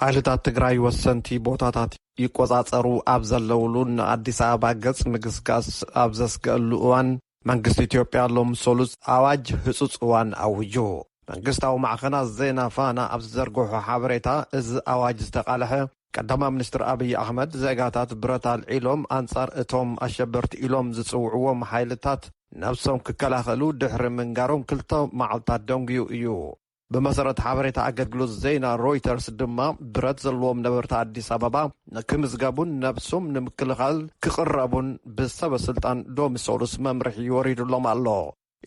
ሓይልታት ትግራይ ወሰንቲ ቦታታት ይቆፃፀሩ ኣብ ዘለውሉን ንኣዲስ ኣበባ ገፅ ምግስጋስ ኣብ ዘስገእሉ እዋን መንግስቲ ኢትዮጵያ ሎም ሰሉስ ኣዋጅ ህፁፅ እዋን ኣዊጁ። መንግስታዊ ማዕኸናት ዜና ፋና ኣብ ዝዘርገሖ ሓበሬታ እዚ ኣዋጅ ዝተቓልሐ ቀዳማ ሚኒስትር ኣብይ ኣሕመድ ዜጋታት ብረት ኣልዒሎም ኣንፃር እቶም ኣሸበርቲ ኢሎም ዝፅውዕዎም ሓይልታት ነብሶም ክከላኸሉ ድሕሪ ምንጋሮም ክልተ መዓልታት ደንጉዩ እዩ። ብመሰረት ሓበሬታ ኣገልግሎት ዜና ሮይተርስ ድማ ብረት ዘለዎም ነበርቲ ኣዲስ ኣበባ ንክምዝገቡን ነብሱም ንምክልኻል ክቕረቡን ብሰበ ስልጣን ሎሚ ሰሉስ መምርሒ ወሪዱሎም ኣሎ።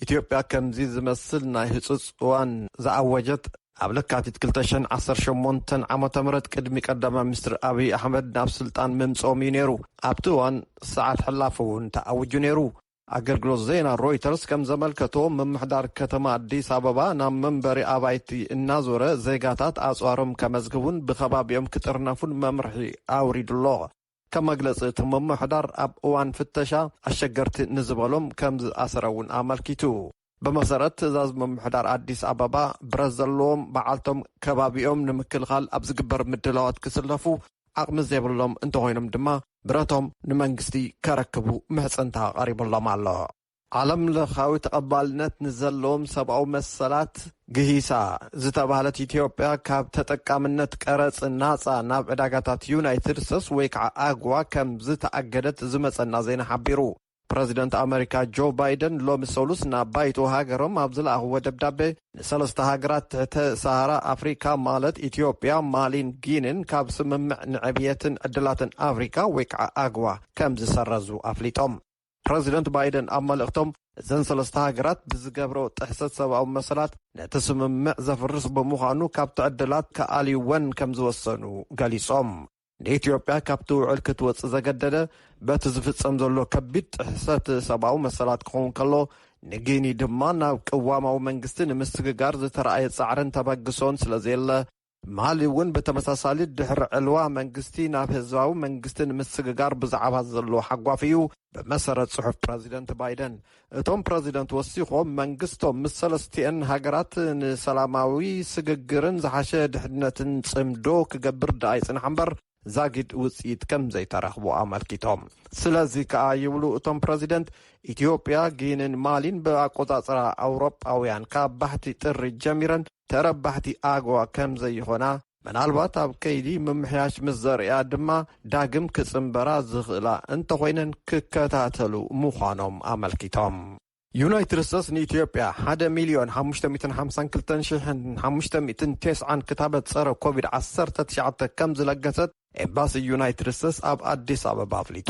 ኢትዮጵያ ከምዚ ዝመስል ናይ ህፁፅ እዋን ዝኣወጀት ኣብ ለካቲት ክልተ ሽሕን ዓሰርተ ሸሞንተን ዓመተ ምህረት ቅድሚ ቀዳማይ ሚኒስትር ኣብይ ኣሕመድ ናብ ስልጣን ምምፅኦም እዩ ነይሩ። ኣብቲ እዋን ሰዓት ሕላፊ እውን ተኣዊጁ ነይሩ። ኣገልግሎት ዜና ሮይተርስ ከም ዘመልከቶ፣ ምምሕዳር ከተማ ኣዲስ ኣበባ ናብ መንበሪ ኣባይቲ እናዞረ ዜጋታት ኣጽዋሮም ከመዝግቡን ብከባቢኦም ክጥርነፉን መምርሒ ኣውሪዱ ኣሎ። ከም መግለጺ እቲ ምምሕዳር፣ ኣብ እዋን ፍተሻ ኣሸገርቲ ንዝበሎም ከም ዝኣሰረ'ውን ኣመልኪቱ። ብመሰረት ትእዛዝ ምምሕዳር ኣዲስ ኣበባ ብረት ዘለዎም በዓልቶም ከባቢኦም ንምክልኻል ኣብ ዝግበር ምድላዋት ክስለፉ ዓቕሚ ዘይብሎም እንተኾይኖም ድማ ብረቶም ንመንግስቲ ከረክቡ ምሕፅንታ ቀሪቡሎም ኣሎ። ዓለም ለኻዊ ተቐባልነት ንዘለዎም ሰብኣዊ መሰላት ግሂሳ ዝተብሃለት ኢትዮጵያ ካብ ተጠቃምነት ቀረፅ ናፃ ናብ ዕዳጋታት ዩናይትድ ስተትስ ወይ ከዓ ኣግዋ ከምዝተኣገደት ዝመፀና ዜና ሓቢሩ። ፕረዚደንት ኣመሪካ ጆ ባይደን ሎሚ ሰሉስ ናብ ባይቶ ሃገሮም ኣብ ዝለኣኽዎ ደብዳቤ ንሰለስተ ሃገራት ትሕተ ሰሃራ ኣፍሪካ ማለት ኢትዮጵያ፣ ማሊን ጊኒን ካብ ስምምዕ ንዕብየትን ዕድላትን ኣፍሪካ ወይ ከዓ ኣግዋ ከምዝሰረዙ ኣፍሊጦም። ፕረዚደንት ባይደን ኣብ መልእኽቶም እዘን ሰለስተ ሃገራት ብዝገብረኦ ጥሕሰት ሰብኣዊ መሰላት ነቲ ስምምዕ ዘፍርስ ብምዃኑ ካብቲ ዕድላት ክኣልዩወን ከምዝወሰኑ ገሊፆም። ንኢትዮጵያ ካብቲ ውዕል ክትወጽእ ዘገደደ በቲ ዝፍጸም ዘሎ ከቢድ ጥሕሰት ሰብኣዊ መሰላት ክኸውን ከሎ ንጊኒ ድማ ናብ ቅዋማዊ መንግስቲ ንምስግጋር ዝተረኣየ ጻዕርን ተበግሶን ስለ ዘየለ ማሊ እውን ብተመሳሳሊ ድሕሪ ዕልዋ መንግስቲ ናብ ህዝባዊ መንግስቲ ንምስግጋር ብዛዕባ ዘለዎ ሓጓፍ እዩ ብመሰረት ፅሑፍ ፕረዚደንት ባይደን፣ እቶም ፕረዚደንት ወሲኾም መንግስቶም ምስ ሰለስቲኤን ሃገራት ንሰላማዊ ስግግርን ዝሓሸ ድሕንነትን ፅምዶ ክገብር ደኣ ይፅናሕ እምበር ዛጊድ ውፅኢት ከምዘይተረኽቦ ኣመልኪቶም። ስለዚ ከኣ ይብሉ እቶም ፕረዚደንት፣ ኢትዮጵያ፣ ጊኒን ማሊን ብኣቆፃፅራ ኣውሮጳውያን ካብ ባሕቲ ጥሪ ጀሚረን ተረባሕቲ ኣጎዋ ከምዘይኾና ምናልባት ኣብ ከይዲ ምምሕያሽ ምስ ዘርእያ ድማ ዳግም ክፅንበራ ዝኽእላ እንተኾይነን ክከታተሉ ምዃኖም ኣመልኪቶም። ዩናይትድ ስቴትስ ንኢትዮጵያ ሓደ ሚልዮን ሓሙሽተ ሚእትን ሓምሳን ክልተን ሺሕን ሓሙሽተ ሚእትን ቴስዓን ክታበት ፀረ ኮቪድ ዓሰርተ ትሽዓተ ከምዝለገሰት ኤምባሲ ዩናይትድ ስቴትስ ኣብ ኣዲስ ኣበባ ኣፍሊጡ።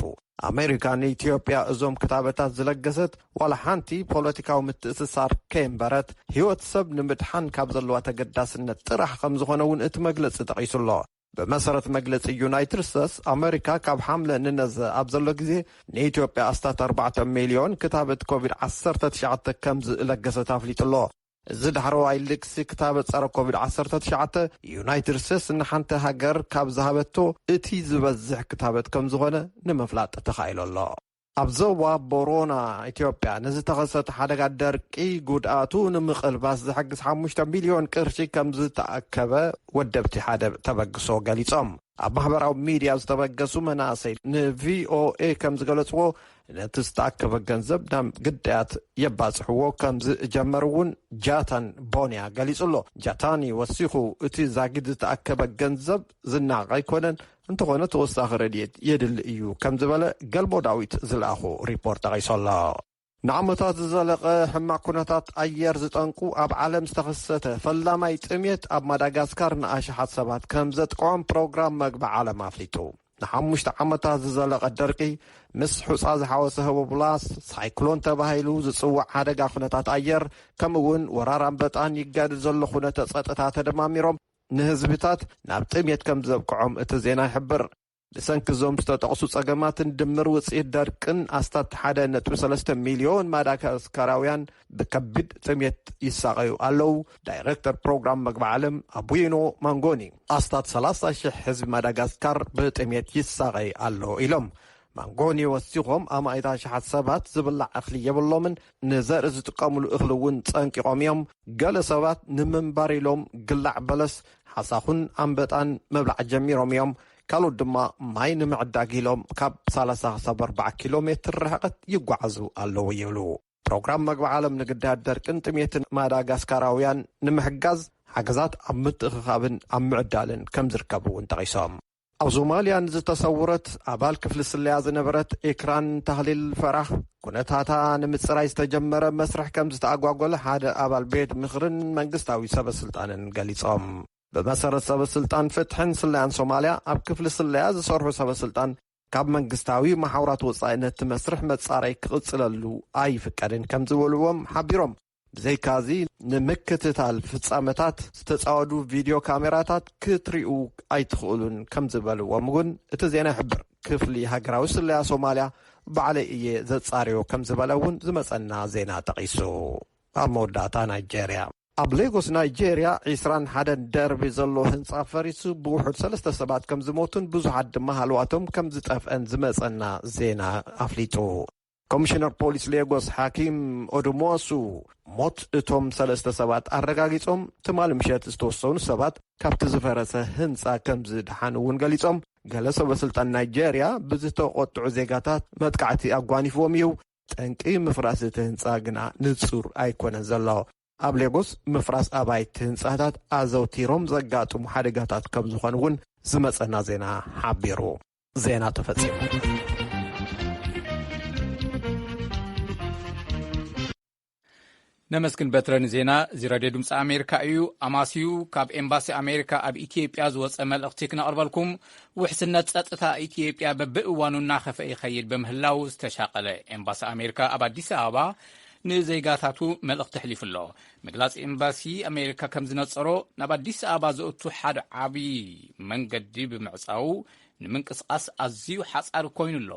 ኣሜሪካ ንኢትዮጵያ እዞም ክታበታት ዝለገሰት ዋላ ሓንቲ ፖለቲካዊ ምትእስሳር ከየንበረት ህይወት ሰብ ንምድሓን ካብ ዘለዋ ተገዳስነት ጥራሕ ከምዝኾነ እውን እቲ መግለፂ ጠቒሱ ኣሎ። ብመሰረት መግለፂ ዩናይትድ ስቴትስ፣ ኣሜሪካ ካብ ሓምለ ንነዘ ኣብ ዘሎ ግዜ ንኢትዮጵያ ኣስታት ኣርባዕተ ሚልዮን ክታበት ኮቪድ ዓሰርተ ትሽዓተ ከምዝለገሰት ኣፍሊጡ ኣሎ። እዚ ዳሕረዋይ ልግሲ ክታበት ጸረ ኮቪድ ዓሰርተ ትሽዓተ ዩናይትድ ስቴትስ ንሓንቲ ሃገር ካብ ዝሃበቶ እቲ ዝበዝሕ ክታበት ከም ዝኾነ ንምፍላጥ ተኻኢሉ ኣሎ። ኣብ ዞባ ቦሮና ኢትዮጵያ ንዝተኸሰተ ሓደጋ ደርቂ ጉድኣቱ ንምቕልባስ ዝሕግዝ ሓሙሽተ ሚልዮን ቅርሺ ከም ዝተኣከበ ወደብቲ ሓደ ተበግሶ ገሊጾም። ኣብ ማሕበራዊ ሚድያ ዝተበገሱ መናእሰይ ንቪኦኤ ከም ዝገለፅዎ ነቲ ዝተኣከበ ገንዘብ ናብ ግዳያት የባፅሕዎ ከም ዝጀመሩ እውን ጃታን ቦንያ ገሊፁ ኣሎ። ጃታኒ ወሲኹ እቲ ዛጊድ ዝተኣከበ ገንዘብ ዝነዓቕ ኣይኮነን፣ እንተኾነ ተወሳኺ ረድኤት የድሊ እዩ ከም ዝበለ ገልሞ ዳዊት ዝለኣኾ ሪፖርት ጠቒሱ ኣሎ። ንዓመታት ዝዘለቐ ሕማቕ ኩነታት ኣየር ዝጠንቁ ኣብ ዓለም ዝተኸሰተ ፈላማይ ጥምየት ኣብ ማዳጋስካር ንኣሽሓት ሰባት ከምዘጥቅዖም ፕሮግራም መግቢ ዓለም ኣፍሊጡ። ንሓሙሽተ ዓመታት ዝዘለቐ ደርቂ ምስ ሑጻ ዝሓወሰ ህቦብላስ ሳይክሎን ተባሂሉ ዝጽዋዕ ሓደጋ ኩነታት ኣየር ከምኡ እውን ወራር ኣንበጣን ይጋድድ ዘሎ ኩነተ ጸጥታ ተደማሚሮም ንህዝብታት ናብ ጥምየት ከምዘብቅዖም እቲ ዜና ይሕብር። ብሰንኪ እዞም ዝተጠቕሱ ጸገማትን ድምር ውጽኢት ደርቅን ኣስታት ሓደ ነጥቢ ሰለስተ ሚልዮን ማዳጋስካራውያን ብከቢድ ጥሜት ይሳቐዩ ኣለዉ። ዳይረክተር ፕሮግራም መግቢ ዓለም ኣቡይኖ ማንጎኒ ኣስታት ሰላሳ ሽሕ ህዝቢ ማዳጋስካር ብጥሜት ይሳቐይ ኣሎ ኢሎም። ማንጎኒ ወሲኾም ኣማኢት ኣሽሓት ሰባት ዝብላዕ እኽሊ የብሎምን፣ ንዘርኢ ዝጥቀምሉ እኽሊ እውን ፀንቂቖም እዮም። ገለ ሰባት ንምንባር ኢሎም ግላዕ በለስ፣ ሓሳኹን ኣንበጣን ምብላዕ ጀሚሮም እዮም። ካልኦት ድማ ማይ ንምዕዳግ ኢሎም ካብ ሰላሳ ክሳብ ኣርባዓ ኪሎ ሜትር ርሕቐት ይጓዓዙ ኣለዉ ይብሉ። ፕሮግራም መግቢ ዓለም ንግዳያት ደርቅን ጥሜትን ማዳጋስካራውያን ንምሕጋዝ ሓገዛት ኣብ ምትእኽኻብን ኣብ ምዕዳልን ከምዝርከብ እውን ጠቒሶም። ኣብ ሶማልያ ንዝተሰውረት ኣባል ክፍሊ ስለያ ዝነበረት ኤክራን ታህሊል ፈራህ ኩነታታ ንምፅራይ ዝተጀመረ መስርሕ ከም ዝተኣጓጎለ ሓደ ኣባል ቤት ምኽርን መንግስታዊ ሰበስልጣንን ገሊፆም። ብመሰረት ሰበስልጣን ፍትሕን ስለያን ሶማልያ ኣብ ክፍሊ ስለያ ዝሰርሑ ሰበስልጣን ካብ መንግስታዊ መሓውራት ወፃኢ ነቲ መስርሕ መፃረይ ክቕፅለሉ ኣይፍቀድን ከም ዝበልዎም ሓቢሮም። ብዘይካ'ዚ ንምክትታል ፍጻመታት ዝተጻወዱ ቪድዮ ካሜራታት ክትሪኡ ኣይትኽእሉን ከም ዝበልዎም'ውን እቲ ዜና ይሕብር። ክፍሊ ሃገራዊ ስለያ ሶማልያ ባዕለይ እየ ዘጻርዮ ከም ዝበለ'ውን ዝመጸና ዜና ጠቒሱ። ኣብ መወዳእታ ናይጀርያ። ኣብ ሌጎስ ናይጀርያ ዕስራን ሓደን ደርቢ ዘለዎ ህንጻ ፈሪሱ ብውሑድ ሰለስተ ሰባት ከም ዝሞቱን ብዙሓት ድማ ሃለዋቶም ከም ዝጠፍአን ዝመጸና ዜና ኣፍሊጡ። ኮሚሽነር ፖሊስ ሌጎስ ሓኪም ኦዱምዋሱ ሞት እቶም ሰለስተ ሰባት ኣረጋጊፆም ትማሊ ምሸት ዝተወሰኑ ሰባት ካብቲ ዝፈረሰ ህንፃ ከምዝደሓኑ እውን ገሊፆም ገለ ሰበስልጣን ናይጀርያ ብዝተቖጥዑ ዜጋታት መጥቃዕቲ ኣጓኒፍዎም እዩ ጠንቂ ምፍራስ እቲ ህንፃ ግና ንፁር ኣይኮነን ዘሎ ኣብ ሌጎስ ምፍራስ ኣባይቲ ህንፃታት ኣዘውቲሮም ዘጋጥሙ ሓደጋታት ከምዝኾኑ እውን ዝመፀና ዜና ሓቢሩ ዜና ተፈጺሙ። ነመስግን በትረ ንዜና እዚ ረድዮ ድምፂ ኣሜሪካ እዩ ኣማስዩ ካብ ኤምባሲ ኣሜሪካ ኣብ ኢትዮጵያ ዝወፀ መልእኽቲ ክነቕርበልኩም ውሕስነት ፀጥታ ኢትዮጵያ በብእዋኑ እናኸፈ ይኸይድ በምህላው ዝተሻቐለ ኤምባሲ ኣሜሪካ ኣብ ኣዲስ ኣበባ ንዜጋታቱ መልእኽቲ ኣሕሊፉ ኣሎ ምግላጽ ኤምባሲ ኣሜሪካ ከም ዝነጸሮ ናብ ኣዲስ ኣበባ ዘእቱ ሓደ ዓብዪ መንገዲ ብምዕጻዉ ንምንቅስቓስ ኣዝዩ ሓጻሪ ኮይኑ ኣሎ።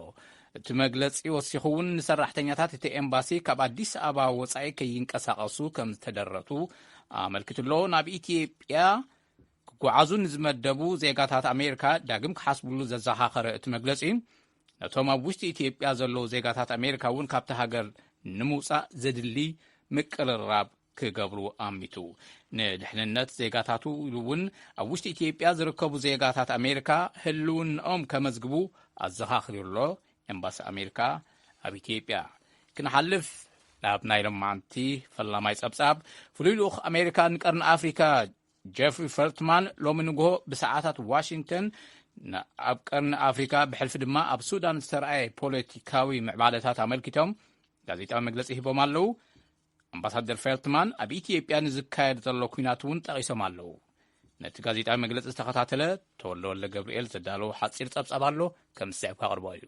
እቲ መግለጺ ወሲኹ እውን ንሰራሕተኛታት እቲ ኤምባሲ ካብ ኣዲስ ኣበባ ወጻኢ ከይንቀሳቐሱ ከም ዝተደረቱ ኣመልኪቱ ኣሎ። ናብ ኢትዮጵያ ክጓዓዙ ንዝመደቡ ዜጋታት ኣሜሪካ ዳግም ክሓስብሉ ዘዘኻኸረ እቲ መግለጺ ነቶም ኣብ ውሽጢ ኢትዮጵያ ዘለዉ ዜጋታት ኣሜሪካ እውን ካብቲ ሃገር ንምውፃእ ዘድሊ ምቅርራብ ክገብሩ ኣሚቱ ንድሕንነት ዜጋታቱ ኢሉ እውን ኣብ ውሽጢ ኢትዮጵያ ዝርከቡ ዜጋታት ኣሜሪካ ህልውናኦም ከመዝግቡ ኣዘኻኽሪ ኣሎ ኤምባሲ ኣሜሪካ ኣብ ኢትዮጵያ ክንሓልፍ ናብ ናይ ሎማዓንቲ ፈላማይ ጸብጻብ ፍሉይ ልኡኽ ኣሜሪካ ንቀርኒ ኣፍሪካ ጀፍሪ ፈልትማን ሎሚ ንግሆ ብሰዓታት ዋሽንግተን ኣብ ቀርኒ ኣፍሪካ ብሕልፊ ድማ ኣብ ሱዳን ዝተረኣየ ፖለቲካዊ ምዕባለታት ኣመልኪቶም ጋዜጣዊ መግለፂ ሂቦም ኣለዉ ኣምባሳደር ፌልትማን ኣብ ኢትዮጵያ ንዝካየድ ዘሎ ኩናት እውን ጠቒሶም ኣለዉ ነቲ ጋዜጣዊ መግለፂ ዝተኸታተለ ተወለወለ ገብርኤል ዘዳለዎ ሓፂር ፀብፃብ ኣሎ ከም ዝስዕብ ካቕርቦ እዩ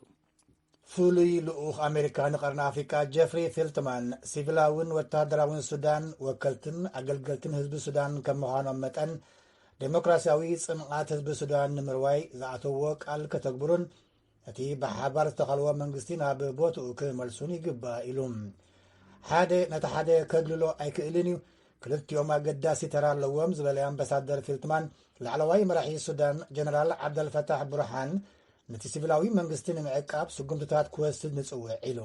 ፍሉይ ልኡኽ ኣሜሪካ ንቀርኒ ኣፍሪቃ ጀፍሪ ፊልትማን ሲቪላውን ወተሃደራውን ሱዳን ወከልትን ኣገልገልትን ህዝቢ ሱዳን ከም ምዃኖም መጠን ዴሞክራሲያዊ ጽንዓት ህዝቢ ሱዳን ንምርዋይ ዝኣተዎ ቃል ከተግብሩን እቲ ብሓባር ዝተኸልዎ መንግስቲ ናብ ቦትኡ ክመልሱን ይግባእ ኢሉ ሓደ ነቲ ሓደ ከግልሎ ኣይክእልን እዩ ክልቲኦም ኣገዳሲ ተራ ኣለዎም ዝበለ ኣምባሳደር ፊልትማን ላዕለዋይ መራሒ ሱዳን ጀነራል ዓብደልፈታሕ ብሩሓን ነቲ ሲቪላዊ መንግስቲ ንምዕቃብ ስጉምትታት ክወስድ ንጽውዕ ኢሉ።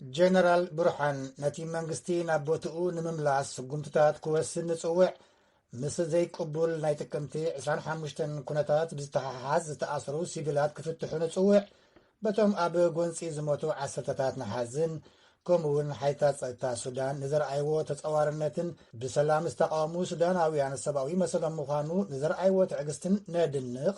ጀነራል ብሩሓን ነቲ መንግስቲ ናብ ቦትኡ ንምምላስ ስጉምትታት ክወስድ ንጽውዕ፣ ምስ ዘይቅቡል ናይ ጥቅምቲ ዕስራን ሓሙሽተን ኩነታት ብዝተሓሓዝ ዝተኣስሩ ሲቪላት ክፍትሑ ንጽውዕ፣ በቶም ኣብ ጎንጺ ዝሞቱ ዓሰርተታት ንሓዝን፣ ከምኡ እውን ሓይልታት ጸጥታ ሱዳን ንዘርኣይዎ ተጸዋርነትን ብሰላም ዝተቓወሙ ሱዳናውያን ሰብኣዊ መሰሎም ምዃኑ ንዘርኣይዎ ትዕግስትን ነድንቕ፣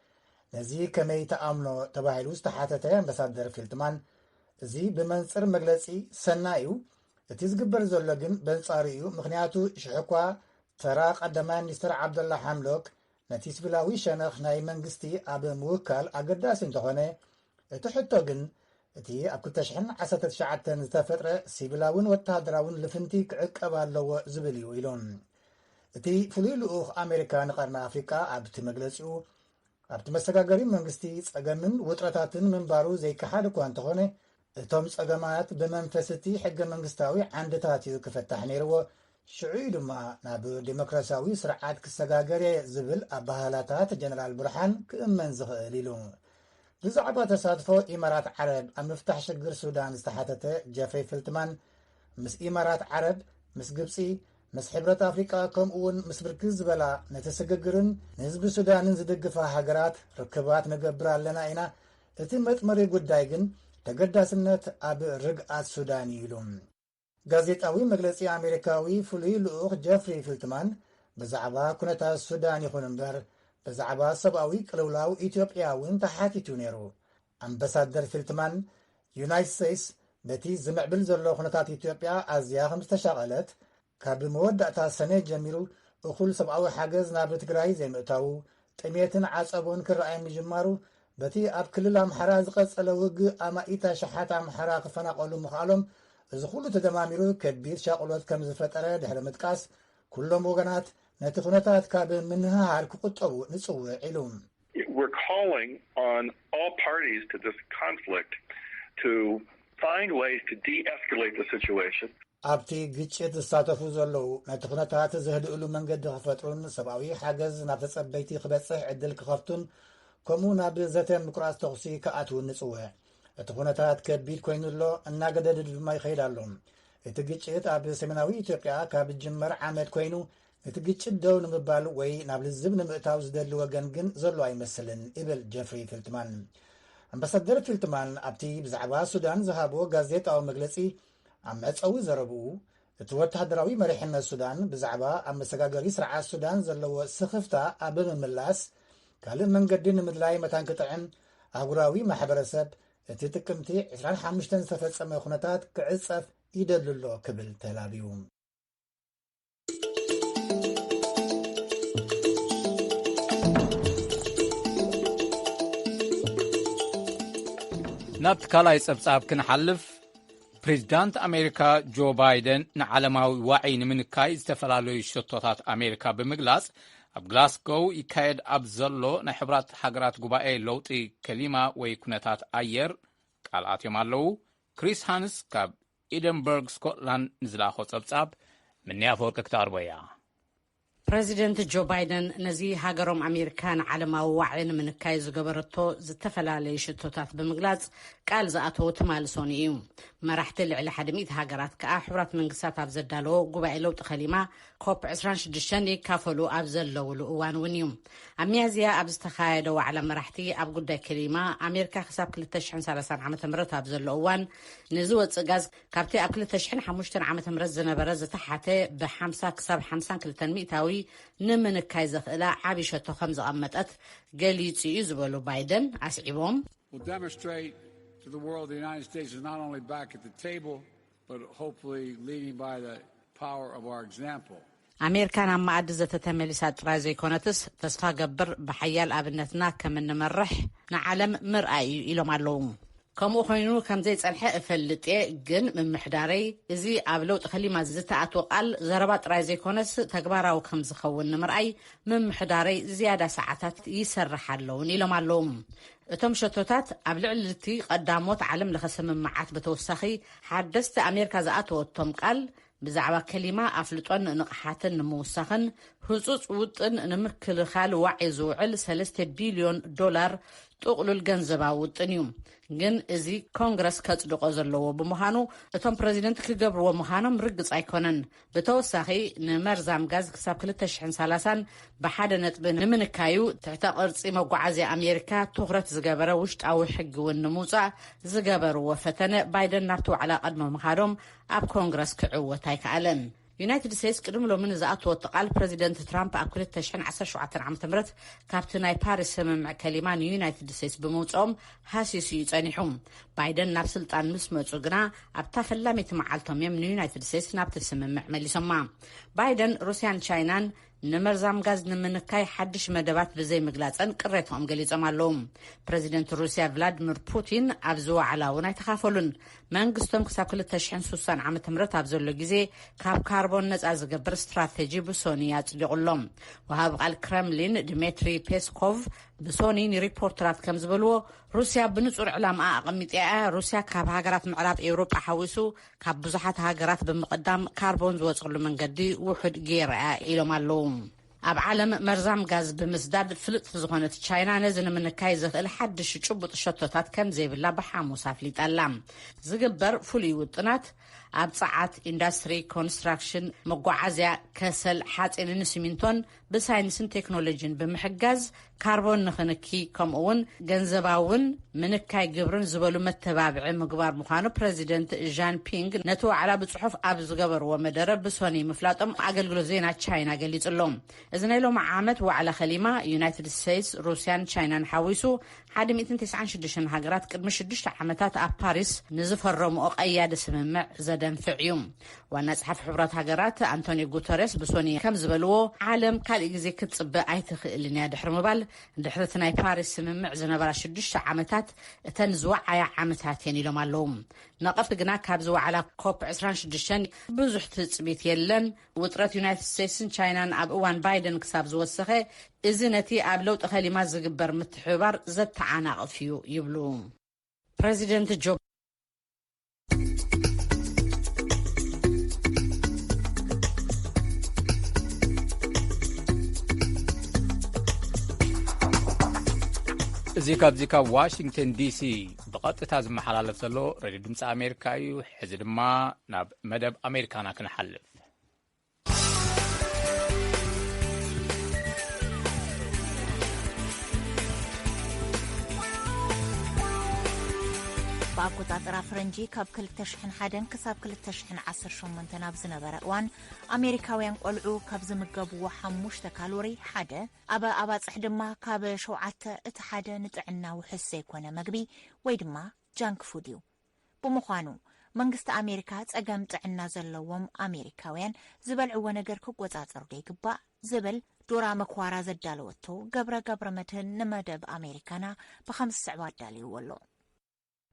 ነዚ ከመይ ተኣምኖ ተባሂሉ ዝተሓተተ ኣምበሳደር ፊልትማን እዚ ብመንፅር መግለፂ ሰናይ እዩ እቲ ዝግበር ዘሎ ግን በንጻሩ እዩ ምክንያቱ ሽሕ እኳ ተራ ቀዳማይ ሚኒስትር ዓብደላ ሓምሎክ ነቲ ስቪላዊ ሸነኽ ናይ መንግስቲ ኣብ ምውካል ኣገዳሲ እንተኾነ እቲ ሕቶ ግን እቲ ኣብ 219 ዝተፈጥረ ሲቪላውን ወተሃደራውን ልፍንቲ ክዕቀብ ኣለዎ ዝብል እዩ ኢሉ እቲ ፍሉይ ልኡኽ ኣሜሪካ ንቀርኒ ኣፍሪቃ ኣብቲ መግለጺኡ ኣብቲ መሰጋገሪ መንግስቲ ጸገምን ውጥረታትን ምንባሩ ዘይከሓድ እኳ እንተኾነ እቶም ጸገማት ብመንፈስ እቲ ሕገ መንግስታዊ ዓንድታት እዩ ክፈታሕ ነይርዎ ሽዑ እዩ ድማ ናብ ዴሞክራሲያዊ ስርዓት ክሰጋገር እየ ዝብል ኣባህላታት ጀነራል ብርሓን ክእመን ዝኽእል ኢሉ ብዛዕባ ተሳትፎ ኢማራት ዓረብ ኣብ ምፍታሕ ሽግር ሱዳን ዝተሓተተ ጀፍሪ ፍልትማን ምስ ኢማራት ዓረብ ምስ ግብፂ ምስ ሕብረት ኣፍሪቃ ከምኡውን ምስ ብርክት ዝበላ ነቲ ስግግርን ንህዝቢ ሱዳንን ዝድግፋ ሃገራት ርክባት ንገብር ኣለና ኢና፣ እቲ መጥመሪ ጉዳይ ግን ተገዳስነት ኣብ ርግኣት ሱዳን እዩ ኢሉ። ጋዜጣዊ መግለጺ ኣሜሪካዊ ፍሉይ ልኡኽ ጀፍሪ ፊልትማን ብዛዕባ ኩነታት ሱዳን ይኹን እምበር ብዛዕባ ሰብኣዊ ቅልውላው ኢትዮጵያ እውን ተሓቲቱ ነይሩ። ኣምበሳደር ፊልትማን፣ ዩናይት ሰይስ በቲ ዝምዕብል ዘሎ ኩነታት ኢትዮጵያ ኣዝያ ከም ዝተሻቐለት፣ ካብ መወዳእታ ሰኔ ጀሚሩ እኹል ሰብኣዊ ሓገዝ ናብ ትግራይ ዘይምእታዉ፣ ጥሜትን ዓጸቦን ክረኣይ ምጅማሩ፣ በቲ ኣብ ክልል ኣምሓራ ዝቐጸለ ውግእ ኣማኢት ኣሽሓት ኣምሓራ ክፈናቐሉ ምኽኣሎም፣ እዚ ኩሉ ተደማሚሩ ከቢድ ሻቕሎት ከም ዝፈጠረ ድሕሪ ምጥቃስ፣ ኩሎም ወገናት ነቲ ኩነታት ካብ ምንህሃር ክቑጠቡ ንጽውዕ ኢሉ። We're calling on all parties to this conflict to find ways to de-escalate the situation. ኣብቲ ግጭት ዝሳተፉ ዘለዉ ነቲ ኩነታት ዘህድእሉ መንገዲ ክፈጥሩን ሰብኣዊ ሓገዝ ናብ ተጸበይቲ ክበጽሕ ዕድል ክኸፍቱን ከምኡ ናብ ዘተ ምቁራጽ ተኹሲ ክኣትውን ንጽውዕ እቲ ኩነታት ከቢድ ኮይኑ ኣሎ እናገደድ ድማ ይኸይድ ኣሎ እቲ ግጭት ኣብ ሰሜናዊ ኢትዮጵያ ካብ ጅመር ዓመት ኮይኑ እቲ ግጭት ደው ንምባል ወይ ናብ ልዝብ ንምእታው ዝደሊ ወገን ግን ዘሎ ኣይመስልን ይብል ጀፍሪ ፊልትማን። ኣምባሳደር ፊልትማን ኣብቲ ብዛዕባ ሱዳን ዝሃቦ ጋዜጣዊ መግለጺ ኣብ መዕፀዊ ዘረብኡ እቲ ወተሃደራዊ መሪሕነት ሱዳን ብዛዕባ ኣብ መሰጋገሪ ስርዓት ሱዳን ዘለዎ ስኽፍታ ኣብ ምምላስ ካልእ መንገዲ ንምድላይ መታን ክጥዕም ኣህጉራዊ ማሕበረሰብ እቲ ጥቅምቲ 25 ዝተፈጸመ ኩነታት ክዕጸፍ ይደሊ ኣሎ ክብል ተላብዩ። ናብቲ ካልኣይ ጸብጻብ ክንሓልፍ ፕሬዚዳንት ኣሜሪካ ጆ ባይደን ንዓለማዊ ዋዒ ንምንካይ ዝተፈላለዩ ሸቶታት ኣሜሪካ ብምግላጽ ኣብ ግላስጎው ይካየድ ኣብ ዘሎ ናይ ሕብራት ሃገራት ጉባኤ ለውጢ ከሊማ ወይ ኩነታት ኣየር ቃልኣትዮም ኣለዉ ክሪስ ሃንስ ካብ ኤደንበርግ ስኮትላንድ ንዝለኣኾ ጸብጻብ ምኒ ኣፈወርቂ ክትቐርቦ እያ። ፕረዚደንት ጆ ባይደን ነዚ ሃገሮም ኣሜሪካ ንዓለማዊ ዋዒ ንምንካይ ዝገበረቶ ዝተፈላለዩ ሽቶታት ብምግላጽ ቃል ዝኣተዉ ትማሊ ሶኑይ እዩ። መራሕቲ ልዕሊ ሓደ ሚእቲ ሃገራት ከኣ ሕቡራት መንግስታት ኣብ ዘዳለዎ ጉባኤ ለውጢ ከሊማ ኮፕ ዕስራን ሽዱሽተን ይካፈሉ ኣብ ዘለውሉ እዋን እውን እዩ ኣብ ሚያዝያ ኣብ ዝተኻየደ ዋዕላ መራሕቲ ኣብ ጉዳይ ክሊማ ኣሜሪካ ክሳብ 230 ዓ ም ኣብ ዘሎ እዋን ንዝወፅእ ጋዝ ካብቲ ኣብ 205 ዓ ም ዝነበረ ዝተሓተ ብ50 ክሳብ 52 ሚእታዊ ንምንካይ ዘኽእላ ዓብዪ ሸቶ ከም ዘቐመጠት ገሊፁ እዩ ዝበሉ ባይደን ኣስዒቦም ኣሜርካ ናብ መኣዲ ዘተ ተመሊሳ ጥራይ ዘይኮነትስ ተስፋ ገብር ብሓያል ኣብነትና ከም እንመርሕ ንዓለም ምርኣይ እዩ ኢሎም ኣለው። ከምኡ ኮይኑ ከምዘይጸንሐ እፈልጥ እየ ግን ምምሕዳረይ እዚ ኣብ ለውጢ ከሊማ ዝተኣትወ ቃል ዘረባ ጥራይ ዘይኮነስ ተግባራዊ ከምዝኸውን ንምርኣይ ምምሕዳረይ ዝያዳ ሰዓታት ይሰርሕ ኣሎ እውን ኢሎም ኣለው። እቶም ሸቶታት ኣብ ልዕሊ'ቲ ቐዳሞት ዓለም ለኸ ስምምዓት ብተወሳኺ ሓደስቲ ኣሜርካ ዝኣተወቶም ቃል ብዛዕባ ከሊማ ኣፍልጦን ንቕሓትን ንምውሳኽን ህጹጽ ውጥን ንምክልኻል ዋዒ ዝውዕል ሰለስተ ቢልዮን ዶላር ጥቕሉል ገንዘባዊ ውጥን እዩ። ግን እዚ ኮንግረስ ከጽድቖ ዘለዎ ብምዃኑ እቶም ፕረዚደንት ክገብርዎ ምዃኖም ርግጽ ኣይኮነን። ብተወሳኺ ንመርዛም ጋዝ ክሳብ ክልተ ሽሕን ሰላሳን ብሓደ ነጥቢ ንምንካዩ ትሕተ ቅርፂ መጓዓዝያ ኣሜሪካ ትኹረት ዝገበረ ውሽጣዊ ሕጊ እውን ንምውፃእ ዝገበርዎ ፈተነ ባይደን ናብቲ ዋዕላ ቀድሞ ምኻዶም ኣብ ኮንግረስ ክዕወት ኣይከኣለን። ዩናይትድ ስቴትስ ቅድሚ ሎሚ ንዝኣተወቶ ቃል ፕረዚደንት ትራምፕ ኣብ 2017 ዓ ም ካብቲ ናይ ፓሪስ ስምምዕ ከሊማ ንዩናይትድ ስቴትስ ብምውፅኦም ሃሲሱ እዩ ጸኒሑ። ባይደን ናብ ስልጣን ምስ መጹ ግና ኣብታ ፈላመይቲ መዓልቶም እዮም ንዩናይትድ ስቴትስ ናብቲ ስምምዕ መሊሶማ። ባይደን ሩስያን ቻይናን ንመርዛም ጋዝ ንምንካይ ሓድሽ መደባት ብዘይምግላጸን ቅሬትኦም ገሊጾም ኣለዉ። ፕረዚደንት ሩስያ ቭላድሚር ፑቲን ኣብዚ ዋዕላ እውን ኣይተኻፈሉን። መንግስቶም ክሳብ 2060 ዓ ም ኣብ ዘሎ ግዜ ካብ ካርቦን ነጻ ዝገብር ስትራቴጂ ብሶኒ ኣጽዲቑ ኣሎ። ወሃቢ ቃል ክረምሊን ድሜትሪ ፔስኮቭ ብሶኒ ንሪፖርተራት ከም ዝበልዎ ሩስያ ብንጹር ዕላምኣ ኣቐሚጥያ እያ። ሩስያ ካብ ሃገራት ምዕራብ ኤውሮጳ ሓዊሱ ካብ ብዙሓት ሃገራት ብምቕዳም ካርቦን ዝወጽሉ መንገዲ ውሑድ ገይራ'ያ ኢሎም ኣለዉ። ኣብ ዓለም መርዛም ጋዝ ብምስዳድ ፍልጥቲ ዝኾነት ቻይና ነዚ ንምንካይ ዘኽእል ሓድሽ ጭቡጥ ሸቶታት ከም ዘይብላ ብሓሙስ ኣፍሊጣ ኣላ። ዝግበር ፍሉይ ውጥናት ኣብ ጸዓት፣ ኢንዳስትሪ፣ ኮንስትራክሽን፣ መጓዓዝያ፣ ከሰል፣ ሓጺንን ሲሚንቶን ብሳይንስን ቴክኖሎጂን ብምሕጋዝ ካርቦን ንክንኪ ከምኡ ውን ገንዘባዊ ውን ምንካይ ግብርን ዝበሉ መተባብዒ ምግባር ምዃኑ ፕረዚደንት ዣን ፒንግ ነቲ ዋዕላ ብፅሑፍ ኣብ ዝገበርዎ መደረ ብሶኒ ምፍላጦም ኣገልግሎት ዜና ቻይና ገሊጹ ኣሎ። እዚ ናይ ሎሚ ዓመት ዋዕላ ከሊማ ዩናይትድ ስቴትስ፣ ሩስያን ቻይናን ሓዊሱ 196 ሃገራት ቅድሚ ሽዱሽተ ዓመታት ኣብ ፓሪስ ንዝፈረምኦ ቀያዲ ስምምዕ ዘደንፍዕ እዩ። ዋና ጸሓፊ ሕቡራት ሃገራት ኣንቶኒዮ ጉተሬስ ብሶኒ ከም ዝበልዎ ዓለም ካልእ ግዜ ክትጽበ ኣይትኽእልን እያ ድሕሪ ምባል ድሕሪ እቲ ናይ ፓሪስ ስምምዕ ዝነበራ ሽዱሽተ ዓመታት እተን ዝወዓያ ዓመታት እየን ኢሎም ኣለዉ ነቐፍቲ ግና ካብዚ ዋዕላ ኮፕ 26 ብዙሕ ትጽቢት የለን ውጥረት ዩናይትድ ስቴትስን ቻይናን ኣብ እዋን ባይደን ክሳብ ዝወሰኸ እዚ ነቲ ኣብ ለውጢ ከሊማ ዝግበር ምትሕብባር ዘተዓናቕፍ እዩ ይብሉ ፕረዚደንት ጆ እዚ ካብዚ ካብ ዋሽንግተን ዲሲ ብቐጥታ ዝመሓላለፍ ዘሎ ረድዮ ድምፂ ኣሜሪካ እዩ ሕዚ ድማ ናብ መደብ ኣሜሪካና ክንሓልፍ ኣቆፃፅራ ፍረንጂ ካብ 201 ክሳብ 218 ናብ ዝነበረ እዋን ኣሜሪካውያን ቆልዑ ካብ ዝምገብዎ ሓሙሽተ ካሎሪ ሓደ ኣብ ኣባፅሕ ድማ ካብ ሸውዓተ እቲ ሓደ ንጥዕና ውሑስ ዘይኮነ መግቢ ወይ ድማ ጃንክ ፉድ እዩ ብምዃኑ፣ መንግስቲ ኣሜሪካ ጸገም ጥዕና ዘለዎም ኣሜሪካውያን ዝበልዕዎ ነገር ክቆጻጸርዶ ይግባእ? ዝብል ዶራ መክዋራ ዘዳለወቶ ገብረ ገብረመድህን ንመደብ ኣሜሪካና ብኸምዚ ዝስዕብ ኣዳልይዎ ኣሎ።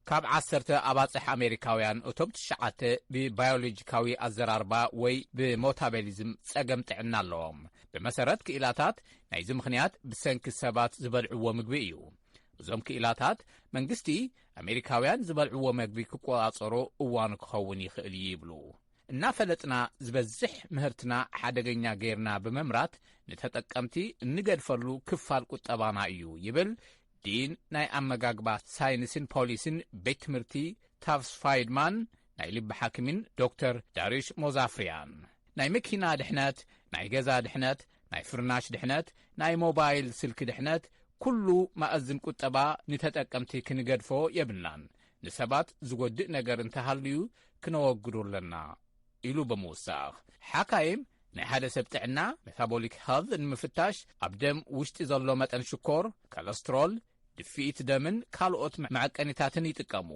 ካብ ዓሰርተ ኣባጽሕ ኣሜሪካውያን እቶም ትሽዓተ ብባዮሎጂካዊ ኣዘራርባ ወይ ብሞታቤሊዝም ጸገም ጥዕና ኣለዎም። ብመሰረት ክኢላታት ናይዚ ምኽንያት ብሰንኪ ሰባት ዝበልዕዎ ምግቢ እዩ። እዞም ክኢላታት መንግስቲ ኣሜሪካውያን ዝበልዕዎ መግቢ ክቆጻጸሮ እዋኑ ክኸውን ይኽእል እዩ ይብሉ። እናፈለጥና ዝበዝሕ ምህርትና ሓደገኛ ገይርና ብምምራት ንተጠቀምቲ እንገድፈሉ ክፋል ቁጠባና እዩ ይብል ዲን ናይ ኣመጋግባ ሳይንስን ፖሊሲን ቤት ትምህርቲ ታፍስ ፋይድማን ናይ ልቢ ሓኪምን ዶክተር ዳርዩሽ ሞዛፍርያን ናይ መኪና ድሕነት ናይ ገዛ ድሕነት ናይ ፍርናሽ ድሕነት ናይ ሞባይል ስልኪ ድሕነት ኩሉ ማእዝን ቁጠባ ንተጠቀምቲ ክንገድፎ የብልናን ንሰባት ዝጎድእ ነገር እንተሃልዩ ክነወግዶ ኣለና ኢሉ ብምውሳኽ ሓካይም ናይ ሓደ ሰብ ጥዕና ሜታቦሊክ ሄልት ንምፍታሽ ኣብ ደም ውሽጢ ዘሎ መጠን ሽኮር ኮለስትሮል ድፍኢት ደምን ካልኦት መዐቀኒታትን ይጥቀሙ።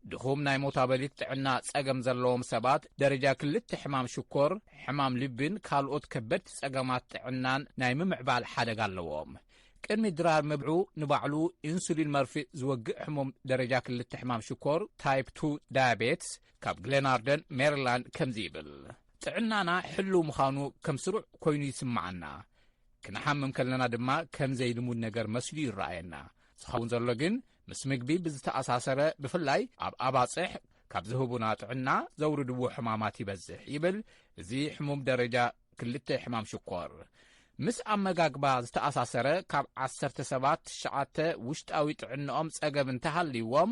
ድኹም ናይ ሞታበሊት ጥዕና ጸገም ዘለዎም ሰባት ደረጃ ክልተ ሕማም ሽኮር፣ ሕማም ልቢን ካልኦት ከበድቲ ጸገማት ጥዕናን ናይ ምምዕባል ሓደጋ ኣለዎም። ቅድሚ ድራር ምብዑ ንባዕሉ ኢንሱሊን መርፍእ ዝወግእ ሕሙም ደረጃ ክልተ ሕማም ሽኮር ታይፕ 2 ዳያቤትስ ካብ ግሌናርደን ሜሪላንድ ከምዚ ይብል ጥዕናና ሕልው ምዃኑ ከም ስሩዕ ኮይኑ ይስምዓና ክንሓምም ከለና ድማ ከም ዘይልሙድ ነገር መስሉ ይረኣየና። ዝኸውን ዘሎ ግን ምስ ምግቢ ብዝተኣሳሰረ ብፍላይ ኣብ ኣባፅሕ ካብ ዝህቡና ጥዕና ዘውርድዎ ሕማማት ይበዝሕ ይብል እዚ ሕሙም ደረጃ ክልተ ሕማም ሽኮር ምስ ኣመጋግባ ዝተኣሳሰረ ካብ ዓሰርተ ሰባት ትሽዓተ ውሽጣዊ ጥዕንኦም ጸገብ እንተሃልይዎም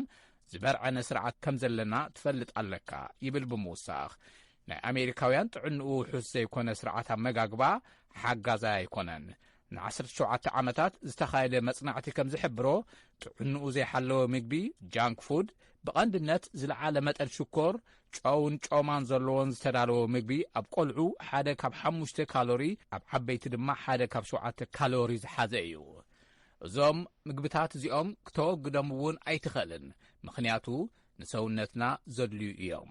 ዝበርዐነ ስርዓት ከም ዘለና ትፈልጥ ኣለካ ይብል ብምውሳኽ ናይ ኣሜሪካውያን ጥዕንኡ ውሑስ ዘይኮነ ስርዓት ኣመጋግባ ሓጋዛይ ኣይኮነን ንዓሰርተ ሸውዓተ ዓመታት ዝተኻየደ መጽናዕቲ ከም ዝሕብሮ ጥዕንኡ ዘይሓለወ ምግቢ ጃንክ ፉድ ብቐንድነት ዝለዓለ መጠን ሽኮር ጨውን ጮማን ዘለዎን ዝተዳለወ ምግቢ ኣብ ቆልዑ ሓደ ካብ ሓሙሽተ ካሎሪ ኣብ ዓበይቲ ድማ ሓደ ካብ ሸውዓተ ካሎሪ ዝሓዘ እዩ እዞም ምግብታት እዚኦም ክተወግዶም እውን ኣይትኽእልን ምኽንያቱ ንሰውነትና ዘድልዩ እዮም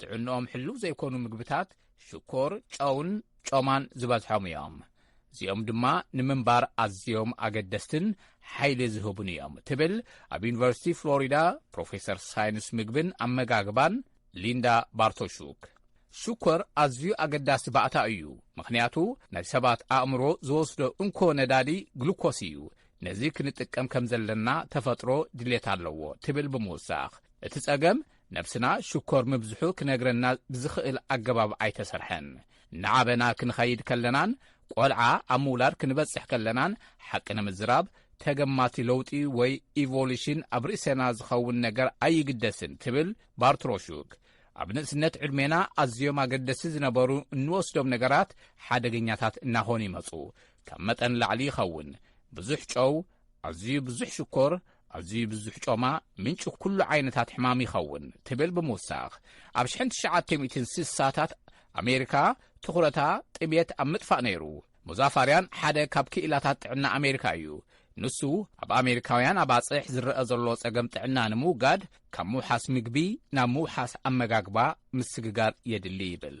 ጥዕንኦም ሕሉው ዘይኮኑ ምግብታት ሽኮር ጨውን ጮማን ዝበዝሖም እዮም እዚኦም ድማ ንምንባር ኣዝዮም ኣገደስትን ሓይሊ ዝህቡን እዮም ትብል ኣብ ዩኒቨርሲቲ ፍሎሪዳ ፕሮፌሰር ሳይንስ ምግብን ኣመጋግባን ሊንዳ ባርቶሹክ ሽኮር ኣዝዩ ኣገዳሲ ባእታ እዩ ምኽንያቱ ናይ ሰባት ኣእምሮ ዝወስዶ እንኮ ነዳዲ ግሉኮስ እዩ ነዚ ክንጥቀም ከም ዘለና ተፈጥሮ ድሌት ኣለዎ ትብል ብምውሳኽ እቲ ጸገም ነብስና ሽኮር ምብዝሑ ክነግረና ብዝኽእል ኣገባብ ኣይተሰርሐን። እናዓበና ክንኸይድ ከለናን ቆልዓ ኣብ ምውላድ ክንበጽሕ ከለናን ሓቂ ንምዝራብ ተገማቲ ለውጢ ወይ ኢቮሉሽን ኣብ ርእሰና ዝኸውን ነገር ኣይግደስን ትብል ባርትሮሹክ። ኣብ ንእስነት ዕድሜና ኣዝዮም ኣገደሲ ዝነበሩ እንወስዶም ነገራት ሓደገኛታት እናኾኑ ይመፁ። ካብ መጠን ላዕሊ ይኸውን። ብዙሕ ጨው፣ ኣዝዩ ብዙሕ ሽኮር፣ ኣዝዩ ብዙሕ ጮማ ምንጪ ኩሉ ዓይነታት ሕማም ይኸውን ትብል ብምውሳኽ ኣብ ሽሕን ትሽዓተ ሚእትን ስሳታት ኣሜሪካ ትኹረታ ጥምየት ኣብ ምጥፋእ ነይሩ። ሙዛፋርያን ሓደ ካብ ክኢላታት ጥዕና ኣሜሪካ እዩ። ንሱ ኣብ ኣሜሪካውያን ኣባጽሕ ዝረአ ዘሎ ጸገም ጥዕና ንምውጋድ ካብ ምውሓስ ምግቢ ናብ ምውሓስ ኣመጋግባ ምስግጋር የድሊ ይብል።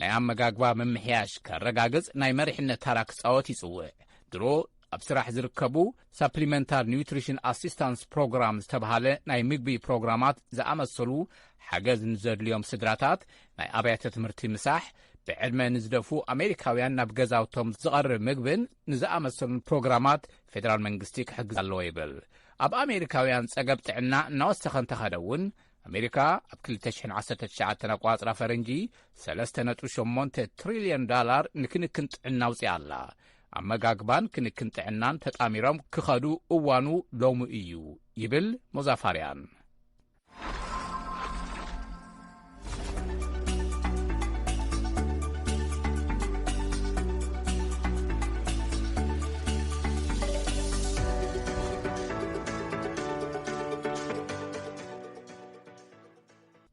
ናይ ኣመጋግባ ምምሕያሽ ከረጋግጽ ናይ መሪሕነት ታራ ክጻወት ይጽውዕ። ድሮ ኣብ ስራሕ ዝርከቡ ሳፕሊመንታር ኒውትሪሽን ኣሲስታንስ ፕሮግራም ዝተብሃለ ናይ ምግቢ ፕሮግራማት ዝኣመሰሉ ሓገዝ ንዘድልዮም ስድራታት ናይ ኣብያተ ትምህርቲ ምሳሕ ብዕድመ ንዝደፉ ኣሜሪካውያን ናብ ገዛውቶም ዝቐርብ ምግብን ንዝኣመሰሉን ፕሮግራማት ፌደራል መንግስቲ ክሕግዝ ኣለዎ ይብል ኣብ ኣሜሪካውያን ጸገብ ጥዕና እናወሰኸ እንተኸደ እውን ኣሜሪካ ኣብ 219 ኣቋፅራ ፈረንጂ 3.8 ትሪልዮን ዳላር ንክንክን ጥዕና ኣውፅኣ ኣላ ኣመጋግባን ክንክን ጥዕናን ተጣሚሮም ክኸዱ እዋኑ ሎሚ እዩ ይብል ሞዛፋርያን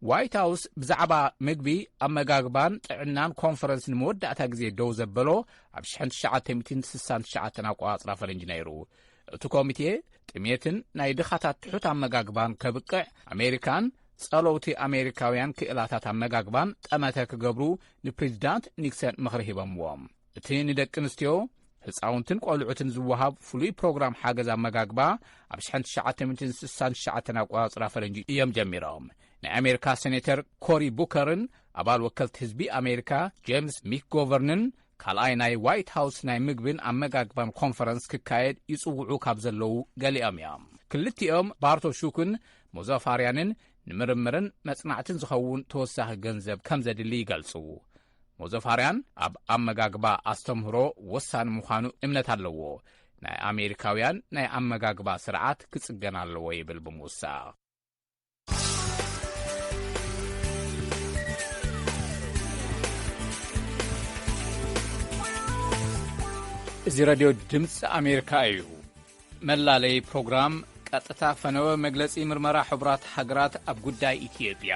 ዋይት ሃውስ ብዛዕባ ምግቢ ኣመጋግባን ጥዕናን ኮንፈረንስ ንመወዳእታ ግዜ ደው ዘበሎ ኣብ 1969 ኣቆጻጽራ ፈረንጂ ነይሩ እቲ ኮሚቴ ጥሜትን ናይ ድኻታት ትሑት ኣመጋግባን ከብቅዕ ኣሜሪካን ጸለውቲ ኣሜሪካውያን ክእላታት ኣመጋግባን ጠመተ ክገብሩ ንፕሬዚዳንት ኒክሰን ምኽሪ ሂቦምዎም እቲ ንደቂ ኣንስትዮ ህፃውንትን ቆልዑትን ዝወሃብ ፍሉይ ፕሮግራም ሓገዝ ኣመጋግባ ኣብ 1969 ኣቆፃፅራ ፈረንጂ እዮም ጀሚሮም ናይ ኣሜሪካ ሴኔተር ኮሪ ቡከርን ኣባል ወከልቲ ህዝቢ ኣሜሪካ ጀምስ ሚክጎቨርንን ካልኣይ ናይ ዋይት ሃውስ ናይ ምግብን ኣመጋግባን ኮንፈረንስ ክካየድ ይጽውዑ ካብ ዘለዉ ገሊኦም እዮም ክልቲኦም ባርቶ ሹክን ሞዛፋርያንን ንምርምርን መጽናዕትን ዝኸውን ተወሳኺ ገንዘብ ከም ዘድሊ ይገልጹ ሞዘፋርያን ኣብ ኣመጋግባ ኣስተምህሮ ወሳኒ ምዃኑ እምነት ኣለዎ። ናይ ኣሜሪካውያን ናይ ኣመጋግባ ስርዓት ክጽገን ኣለዎ ይብል ብምውሳኽ። እዚ ረድዮ ድምፂ ኣሜሪካ እዩ። መላለይ ፕሮግራም ቀጥታ ፈነወ መግለፂ ምርመራ ሕቡራት ሃገራት ኣብ ጉዳይ ኢትዮጵያ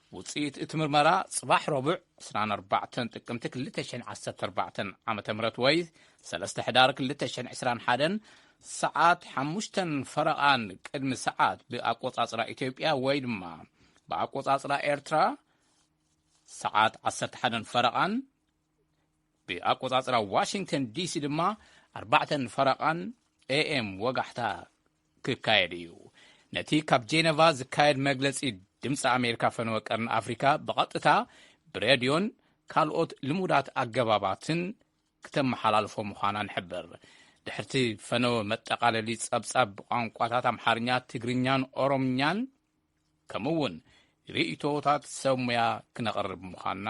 ውጽኢት እቲ ምርመራ ጽባሕ ረቡዕ ዕስራን ኣርባዕተን ጥቅምቲ ክልተ ሽሕን ዓሰርተ ኣርባዕተን ዓመተ ምህረት ወይ ሰለስተ ሕዳር ክልተ ሽሕን ዕስራን ሓደን ሰዓት ሓሙሽተን ፈረቓን ቅድሚ ሰዓት ብኣቆጻጽራ ኢትዮጵያ ወይ ድማ ብኣቆጻጽራ ኤርትራ ሰዓት ዓሰርተ ሓደን ፈረቓን ብኣቆጻጽራ ዋሽንግተን ዲሲ ድማ ኣርባዕተን ፈረቓን ኤኤም ወጋሕታ ክካየድ እዩ። ነቲ ካብ ጄነቫ ዝካየድ መግለጺ ድምፂ ኣሜሪካ ፈነወ ቀርኒ ኣፍሪካ ብቐጥታ ብሬድዮን ካልኦት ልሙዳት ኣገባባትን ክተመሓላልፎ ምዃና ንሕብር ድሕርቲ ፈነወ መጠቓለሊ ጸብጻብ ብቋንቋታት ኣምሓርኛ ትግርኛን ኦሮምኛን ከምኡ እውን ርእይቶታት ሰብ ሙያ ክነቕርብ ምዃንና